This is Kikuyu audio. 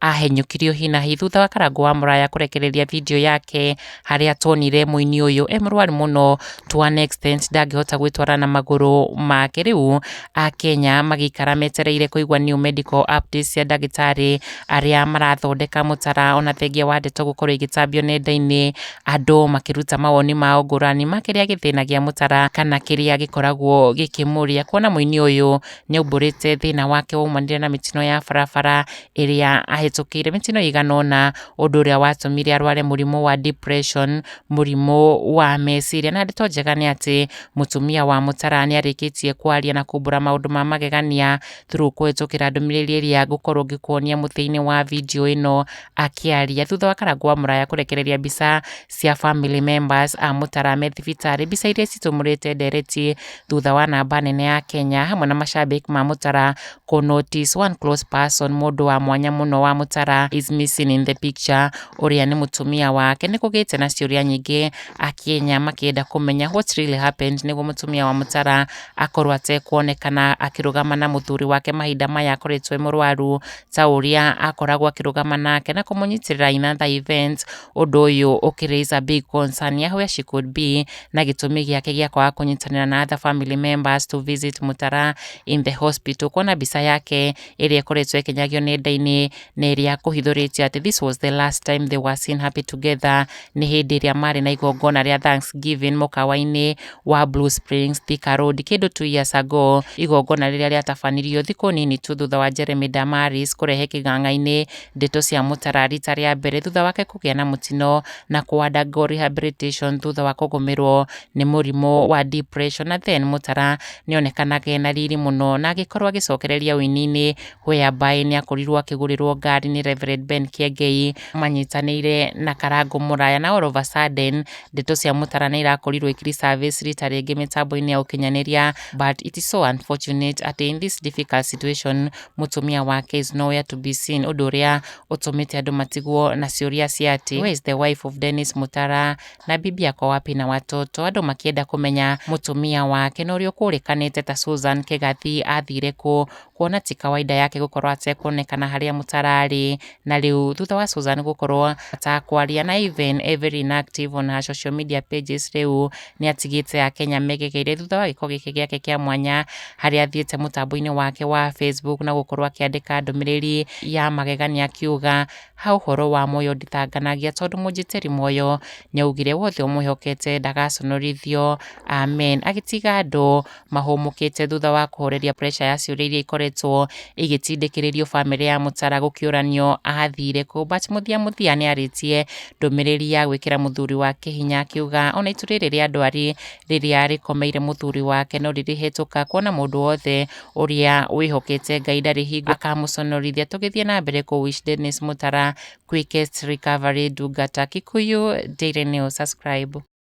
Ahenyũkirio hi na hi thutha wa Karangũ wa Mũraya kũrekereria video yake harĩa tuonire mũini ũyũ e mũrwaru mũno to an extent ndangĩhota gwĩtwara na magũrũ make. Rĩu Akenya magĩikara metereire kũigua new medical updates cia ndagĩtarĩ arĩa marathondeka mũtara ona thengia wa ndeto gũkorwo igĩtambio nenda-inĩ, andũ makĩruta mawoni mao ngũrani ma kĩrĩa gĩthĩnagia mũtara kana kĩrĩa gĩkoragwo gĩkĩmũria. Kuona mũini ũyũ nĩ aumbũrĩte thĩna wake waumanire na mĩtino ya barabara ĩrĩa ahĩtũkĩire, mĩtino ĩigana ũna, ũndũ ũrĩa watũmire arware mũrimũ wa depression, mũrimũ wa meciria. Na ndeto njega nĩ atĩ mũtumia wa Mũtara nĩ arĩkĩtie kwaria na kumbũra maũndũ ma magegania through kũhĩtũkĩra ndũmĩrĩri ĩrĩa ngũkorwo ngĩkuonia mũthia-inĩ wa video ĩno akĩaria. Thutha wa Karangũ wa Mũraya kũrekereria mbica cia family members a Mũtara me thibitarĩ, mbica iria citumũrĩte ndereti thutha wa namba nene ya Kenya hamwe na mashabik ma Mutara kũ notice one close person mũndũ wa mwanya mũno wa Mutara is missing in the picture ũrĩa nĩ mũtumia wake nĩ kũgĩte na ciũria nyingĩ akenya makĩenda kũmenya what really happened nĩguo mũtumia wa Mutara akorwo atekuonekana akĩrũgama na mũthuri wake mahinda maya akoretwo e mũrwaru ta ũrĩa akoragwo akĩrũgama nake na kũmũnyitĩrĩra in other events ũndũ ũyũ ũkĩraise a big concern ya where she could be na gĩtũmi gĩake gĩa kwaga kũnyitanĩra na other family members to visit Mutara in the hospital. Kuona mbica yake ĩrĩa ĩkoretwo ĩkĩnyagio nenda-inĩ na ĩrĩa kũhithũrĩtio atĩ this was the last time they were seen happy together nĩ hĩndĩ ĩrĩa marĩ na igongona rĩa Thanksgiving mũkawa-inĩ wa Blue Springs Thika Road kĩndũ two years ago, igongona rĩrĩa rĩatabanirio thikũ nini tu thutha wa Jeremy Damaris kũrehe kĩganga-inĩ Ndeto cia Mũtara rita rĩa mbere thutha wake kũgĩa na mũtino na kũandagwo rehabilitation thutha wa kũgũmĩrwo nĩ mũrimũ wa depression na then Mũtara nĩonekanaga ena riri mũno na agĩkorwo agĩcokereria ũini-inĩ whereby nĩakorirwo akĩgũrĩrwo ngari nĩ Rev Ben Kiengei manyitanĩire na Karangũ Mũraya na all of a sudden ndeto cia Mũtara nĩirakorirwo ikĩrĩ service rita rĩngĩ mĩtambo-inĩ ya ũkinyanĩria but it is so unfortunate atĩ in this difficult situation mũtumia wake is nowhere to be seen, ũndũ ũrĩa ũtũmĩte andũ matigwo na ciũria cia atĩ where is the wife of Dennis Mutara na bibi ako wapi na watoto, andũ makĩenda kũmenya mũtumia wake na ũrĩa ũkũrĩkanĩte ta Susan Kĩgathi athire kũ, kuona ti kawaida yake gũkorwo atekuonekana harĩa Mutara arĩ, Na rĩu thutha wa Susan gũkorwo atakwaria na even e very inactive on her social media pages rĩu nĩ atigĩte a Kenya megegeire thutha wa gĩko gĩkĩ gĩake kĩa mwanya harĩa athiĩte mũtambo-inĩ wake wa Facebook na gũkorwo akĩandĩka ndũmĩrĩri ya magegania akiuga ha ũhoro wa Moyo nditanganagia tondũ mũnjĩtĩri Moyo nĩ augire wothe ũmwĩhokete ndagaconorithio amen agĩtiga andũ mahũmũkĩte thutha wa kũhoreria pressure ya ciũria iria ikoretwo igĩtindĩkĩrĩrio bamĩrĩ ya Mũtara gũkĩũranio athire kũ but mũthia mũthia nĩ arĩtie ndũmĩrĩri ya gwĩkĩra mũthuri wake hinya akiuga ona itu rĩrĩ rĩa ndwari rĩrĩa rĩkomeire mũthuri wake no rĩrĩhetũka kuona mũndũ wothe ũrĩa wĩhokete Ngai ndarĩ hingo akamũconorithia tũgĩthiĩ na mbere kũ wish Dennis Mũtara quickest recovery Ndungata Kikuyu Daily News subscribe